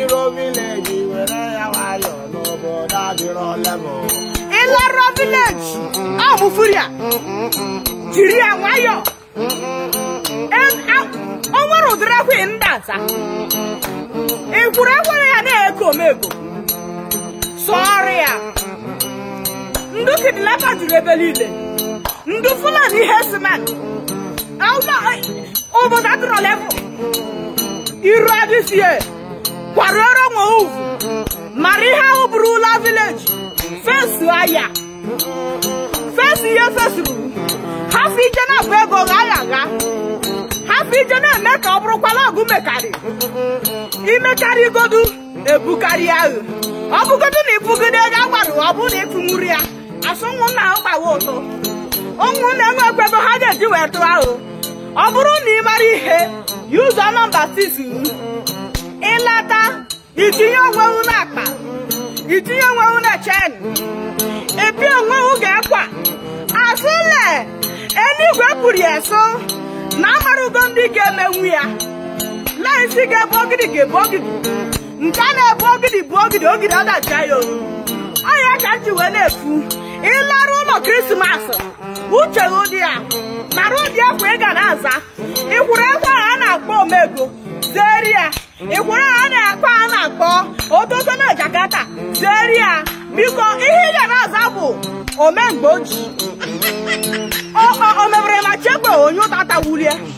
Iro village were ya nwayọọ n'obodo adịrọ level. ị larụọ village ọ bụ furia jiri ya nwayọọ Em- a- o nwere ụdịrị ẹwha ị na-aza ị whụrụ ẹwha a na-eku omego sọọrọ ya ndị kidnapper juru ebe niile ndị fulani herdsmen obodo adịrọ level iru adịsie kwarụọrọ onwe uvu mara ihe ọ bụrụ ị la village fensu anya fensu ihe fesuru hafụ ije na-abụ ego gha ya gha hafụ ije na-eme ka ọ bụrụkwa la ọ gụ mekarị i mekarị igodu ebukarịa ghụ ọ bụgodu na ị kwụgide ego a gwarụ ghụ ọ bụrụ na ị kwụnwuru ya a sụ ụmụnna ghụ gbawa ụtụ ụmụnna enwe ekwebe ha ga-eji wee tụọ ghụ ọ bụrụ na ị mara ihe yuzuo nọmba 6 ịlata itinye onwewu n'akpa itinye onwewu na chain ebi onwewu ga-ekwa a sụ le eluigwe kwuru ya so na amarugo ndị ga-emenwu ya la isi ga-ebu ogidi ga-ebu ogidi nke a na-ebu ogidi bụ ogidi ogidi adajie ya olu ọ ya ka m ji wee na-ekwu ị larụ ụlọ krismas uche gị dị ya mara ụdị ẹwha ị ga na-aza ị whụrụ ẹwha a na-akpọ omego zeri ya ị whụrụ a a na-akpọ a na-akpọ ototo na Jakarta zeri ya biko ihe ị ga na-aza bụ ome mgbe o ji omebere ma chekwa onye ụtata wulie